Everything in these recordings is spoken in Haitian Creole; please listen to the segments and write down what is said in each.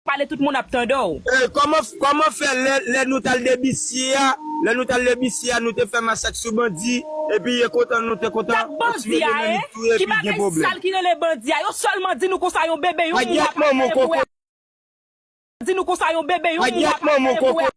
Pale tout moun ap tande w. Ee kòman kòman fè lè lè nou tal debisye a lè nou tal debisye a nou te fè masak sou bandi epi ye kontan nou te kontan Sak yo bandi tuye a e? Dominique touye Ki epi gen bagay pwoblèm. sal ki rele bandi a? Yo sèlman di nou konsa yon bebe yon mou Pagyèt wap al manman mare pou koko. e di nou konsa yon bebe yon mou Pagyèt wap al manman mare pou e koko.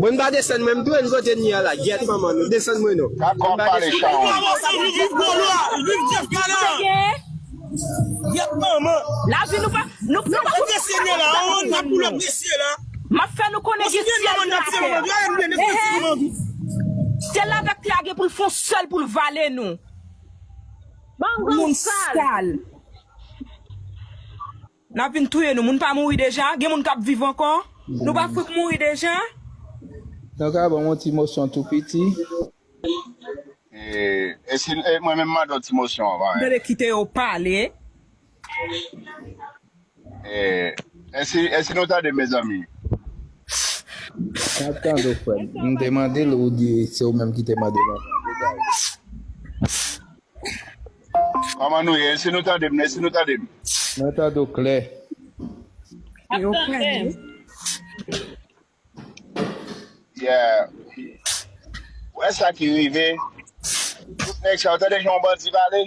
Mwen pa desann mwen mtou en kote nia la gyèt manman nou desann mwen non mwen pa desann. Nap vin touye nou moun pa mouri deja gen moun kap viv ankò nou pa fout mouri deja. Nou ka banm yon ti mosyon tou piti. Eh e si e mwen menm mande yon ti mosyon avan eh. Tande kite yo pale. Eh e si e si nou tande mezanmi. Map tande w frem. M te mandel ou di se ou menm ki te mandel anko. Degaj. Koman nou ye? Esi nou tande m? Esi nou tande m? Mwen tande w klè. Yo klè wi. Yeah. Ou wè sa ki rive? Tout nèg sa yo tande jan yon bandi pale?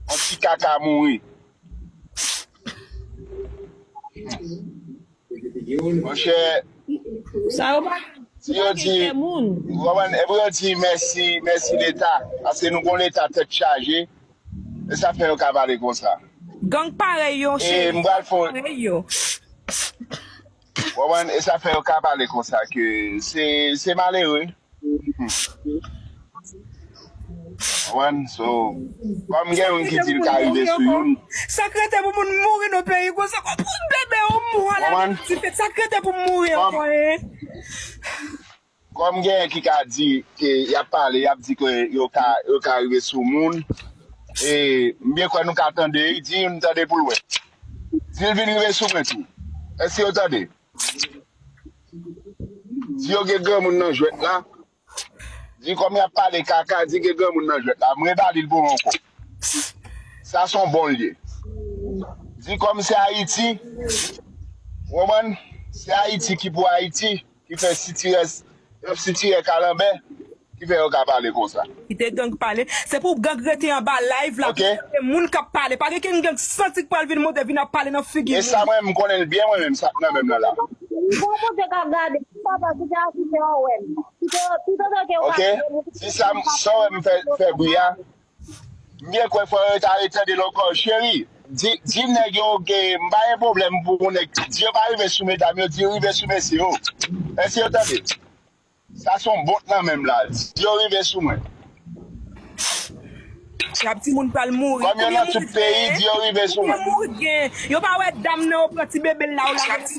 Yon ti kaka mouri. Monchè, Sa yo pa si yo di, kè moun. ou konprann, epi yo di mèsi, mèsi leta, paske nou gon leta tèt chaje, se sa fè yo ka pale konsa. Gang parèy yo E cheri, m pral gang fon, parèy yo. ou konprann, e sa fè yo ka pale konsa ke se se malere. Mwen so kom gen yon ki dil ka rive sou youn. Sak rete pou moun mouri nan peyi konsa kom pou yon bebe yon mou ala gen yon ti fèt sak rete pou mouri anko hein. Kom gen ki ka di ke yap pale yap di ke yo ka yo ka rive sou moun e m byen kwe nou ka tande di youn tande poul we dil vin rive sou mwen tou eske yo tande. Di yo gen granmoun nan jwèt la. Di kòm yap pale kaka di gen granmoun nan jwèt la. M rebali l pou ou ankò. Sa son bon l ye. Di kòm se Ayiti, ou konprann? Se Ayiti ki pou Ayiti ki fè sitirès Yo sitirè kalanbè ki fè yo ka pale konsa. Kite gang pale. Se pou gang rete anba live la pou tande moun kap pale. Pa gen ken gang santi k pral vin monte vin ap pale nan figi moun. Esa mwen menm m konnen l byen mwen menm sak nan menm nan la. Bon Bondye kap gade. Papa kite a kite yo wèm. Kite yo tout otan ke yo pa vle moun. Ok si sa wèm fè bri a M byen kwè fò yo ta ale tande l ankò cheri di di nèg yo ke m pa gen pwoblèm pou yon nèg di yo pa rive sou medam yo di yo rive sou mesye yo èske yo tande sa son bont nan menm la di yo rive sou mwen Trap ti moun pral mouri. Konbyen moun gen? Konbyen moun gen? Yo pa wè dam nan yo pran ti bebe l la yo lage nan.